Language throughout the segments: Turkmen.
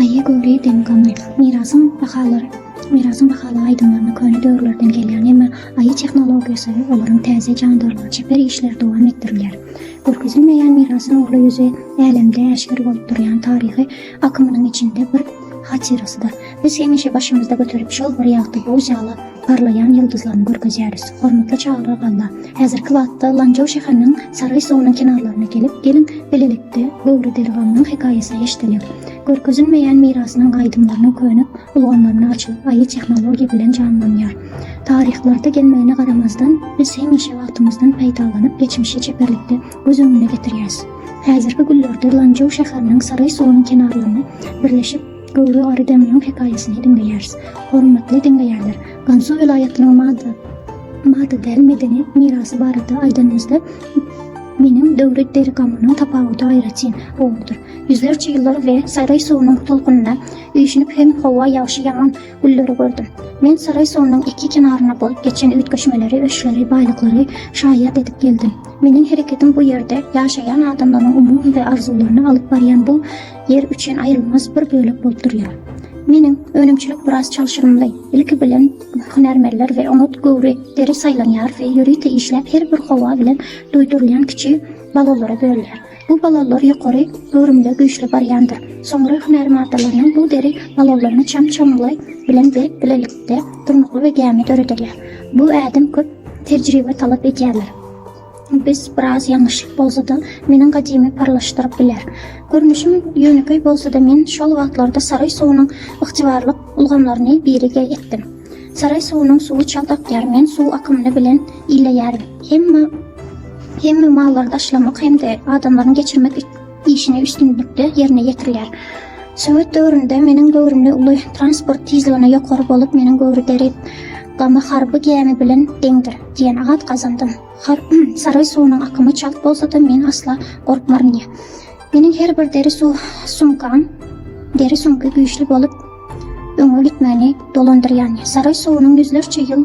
Aýy göwri dem gamly. Mirasyň bahalary Mirasyň bahaly aýdymlaryna köne döwürlerden gelýän, emma Aýy tehnologiýasy, olaryň täze jandarlygy, çeper işleri dowam etdirilýär. Görkezilmeýän mirasyň uly ýüzi älemde äşgär bolup durýan taryhy akymynyň içinde bir Hatyrasy-da, biz hemişe başymyzda göterip, şol bir ýagty buz ýaly parlaýan ýyldyzlaryny görkezýäris. Hormatly Çagryk Alla, häzirki wagtda Lanjaw şäheriniň Saraý suwunyň kenarlaryna gelip, geliň, bilelikde Göwre Dergamynyň hekaýasyny eşidelim. Görkezilmeýän mirasynyň aýdymlarynyň köne ulgamlaryny açyp, aýy tehnologiýa bilen janlanýar. Taryhlarda gelmegine garamazdan, biz hemişe wagtymyzdan peýdalanyp, geçmişi çeperlikde, göz öňüne getirýäs. Häzirki günlerde Lanjou şäheriniň Saray suwunyň kenarlaryna birleşip, göwre gary deňiziň hekaýasyny diňleýäris. Hormatly diňleýänler, Gansu welaýatynyň mada mada däl medeni mirasy barada aýdanymyzda, meniň döwri Derigamonyň tapawudy aýratyn gowudyr. Ýüzlerçe ýyllar we Saray suwunyň tolkunynda üýşünip hem howa ýagşy-ýaman, Gülleri gördüm. Men Saraý suwunyň iki kenaryna bolup geçen üýtgeşmeleri, öçleri, baýlyklary şaýat edip geldim. Meniň hereketim bu ýerde ýaşaýan adamlaryň umumy we arzuwlaryny alyp barýan bu ýer üçin aýrylmaz bir bölek bolup durýar. Meniň önümçilik biraz çalşyrymly. Ilki bilen hünärmenler we oňat göwri deri saýlanýar we ýörite işläp her bir howa bilen duýdurylýan kiçi balolara bölünýär. Bu balonlar ýokary göwrümde güýçli barýandyr. Soňra hünär maddalarynyň bu deri balonlaryny çam çamly bilen berip bilelikde durnukly we gämi döredirler. Bu ädim köp tejribe talap edýärler. Biz biraz ýalňyşlyk bolsada meniň gadymy parlaşdyryp biler. Görnüşim ýönekeý bolsada men şol wagtlarda saryý suwunyň ygtybarlyk ulgamlaryny biriga etdim. Saraý suwunyň suwy çalt akýar, men suw akymyny bilen illeýärin. Hemme hemme mallary daşlamak hem-de adamlaryň geçirmek işini üstünlikde ýerine ýetirýär. Sowet döwründe meniň göwrümli uly transport tizligine ýokary bolup, meniň göwri deri gama harby gämi bilen deňdir, diýen at gazandym. Saraý suwunyň akymy çalt bolsa-da, men asla gorkmaryn diýýär. Meniň her bir deri sumkam, deri sumky güýçli bolup, öňe gitmäni dolandyrýan. Saray suwunyň ýüzlerçe ýyl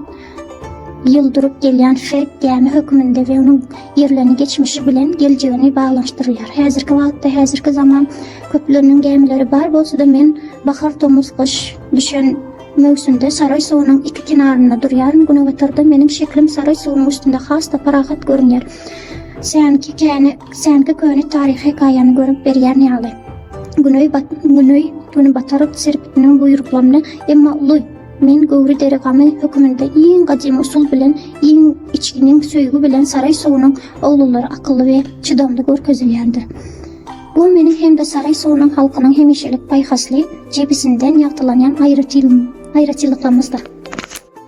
ýyl durup gelýän ferk gämi hökmünde we onuň ýerlerini geçmişi bilen geljegini baglanyşdyrýar. Häzirki wagtda, häzirki zaman köpleriniň gämileri bar bolsa-da, men bahar, tomus, gyş düşen möwsümde Saray suwunyň iki kenarynda durýaryn. Günebatarda meniň şeklim Saray suwunyň üstünde has-da parahat görünýär. Seňki käni Sänki köne taryh hekaýany görüp berýän ýaly. Güneý bat güneý güni bataryp serpitiniň buýruklarny emma uly Men Göwri deri gamy höküminde iň gadymy usul bilen iň içginiň söýgi bilen saraý suwunyň oglulary akylly we çydamly görkezilýändir. Bu meniň hem-de saraý suwunyň halkynyň hemişelik paýhasly jebisinden ýagtylanýan aýratyn aýratynlyklarymyzdyr.